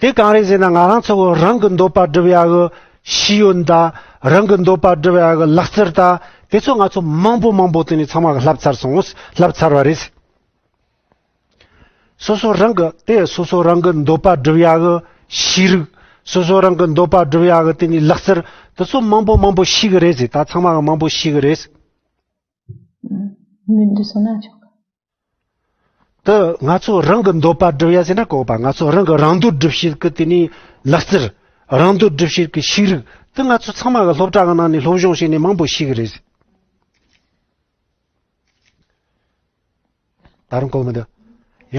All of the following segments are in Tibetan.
དེ་གང་རེད་ཟེར་ན་ང་རང་ཚོ་རང་གི་འདོད་པ་སྒྲུབ་ཡག་གི་ཤེས་ཡོན་དང་རང་གི་འདོད་པ་སྒྲུབ་ཡག་གི་ལག་རྩལ་དང་དེ་ཚོ་ང་ཚོ་མང་པོ་མང་པོ་དེ་ནས་ཚང་མ་བསླབ་ཚར་སོང་བསླབ་ཚར་བ་རེད། སོ་སོ་རང་གི་དེ་སོ་སོ་རང་གི་འདོད་པ་སྒྲུབ་ཡག་གི་ཤེས་རིག་སོ་སོ་རང་གི་འདོད་པ་སྒྲུབ་ཡག་གི་དེ་ནས་ལག་རྩལ་དེ་ཚོ་མང་པོ་མང་པོ་ཤེས་གི་རེད་ཟེར་ད་ཚང་མ་གི་མང་པོ་ཤེས་གི་རེད། མི་འདི་སོང་ན་ཆོག་གི། དུ་ང་ཚོ་རང་གི་འདོད་པ་སྒྲུབ་ཡ་ཟེར་ན་ལྐོག་པ་ང་ཚོ་རང་གི་རང་འདོད་སྒྲུབ་བྱེད་ཀྱི་དེ་ནས་ལག་རྩལ་རང་འདོད་སྒྲུབ་བྱེད་ཀྱི་ཤེས་རིག་དེ་ང་ཚོ་ཚང་མ་གི་སློབ་གྲྭ་གི་ནང་ནས་སློབ་སྦྱོང་བྱས་ནས་མང་པོ་ཤེས་ཀྱི་རེད། ད་རུང་གོ་མི་འདུག་ཡ།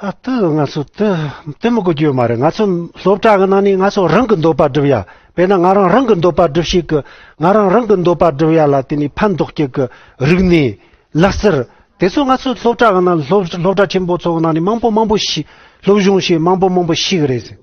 ཨ་ཏི་ང་ཚོ་དེ་དེ་མི་དགོས་རྒྱུ་མ་རེད་ང་ཚོ་སློབ་གྲྭ་གི་ནང་ནས་ང་ཚོ་རང་གི་འདོད་པ་སྒྲུབ་ཡ་དཔེར་ན་ང་རང་རང་གི་འདོད་པ་སྒྲུབ་ཤེས་ཀི་ང་རང་རང་གི་འདོད་པ་སྒྲུབ་ཡ་ལ་དེ་ནས་ཕན་འདོགས་སྐྱེ་གི་རིག་གནས་ལག་རྩལ་དེ་ཚོ་ང་ཚོ་སློབ་གྲྭ་གི་ནང་སློབ་གྲྭ་ཆེན་པོ་ཚོ་གི་ནང་ནས་མང་པོ་མང་པོ་ཞིག་སློབ་སྦྱོང་བྱེད་མང་པོ་མང་པོ་ཞིག་རེད་ཟེར་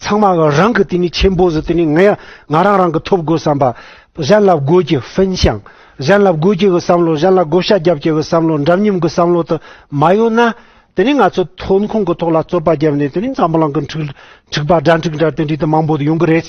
ཚང་མ་རང་གི་དེ་ནས་ཆེན་པོ་ཟིག་དེ་ནས་ངས་ང་རང་རང་གི་ཐོབ་དགོས་བསམ་པ། གཞན་ལ་དགོས་ཀྱི་ཧྥིན་ཞིང། གཞན་ལ་དགོས་ཀྱི་གི་བསམ་བློ་གཞན་ལ་བགོ་བཤའ་རྒྱབ་ཀྱི་གི་བསམ་བློ་འདྲ་མཉམ་གི་བསམ་བློ་དུ་མ་ཡོད་ན། དེ་ནས་ང་ཚོས་ཐོན་ཁུངས་གི་ཐོག་ལ་རྩོད་པ་རྒྱབ་ནས་དེ་ནས་འཛམ་བུ་གླང་གི་འཁྲིག་འཁྲིག་པ་སྒྲ་འཁྲིག་འདྲ་དེ་འདྲའི་དུ་མང་པོ་ཡོང་གི་རེད།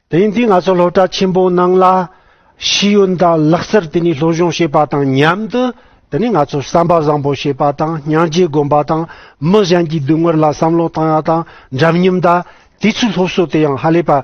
དེང་དུས་ང་ཚོ་སློབ་གྲྭ་ཆེན་པོའི་ནང་ལ་ཤེས་ཡོན་དང་ལག་རྩལ་དེ་ནི་སློབ་སྦྱོང་བྱེད་པ་དང་མཉམ་དུ་དེ་ནི་ང་ཚོར་བསམ་པ་བཟང་པོ་བྱེད་པ་དང་སྙིང་རྗེ་སྒོམ་པ་དང་མི་གཞན་གྱི་སྡུག་བསྔལ་ལ་བསམ་བློ་བཏང་ཡ་དང་འདྲ་མཉམ་དང་དུས་ཚོད་སློབ་གསོ་དེ་ཡང་ཧ་ལས་པ།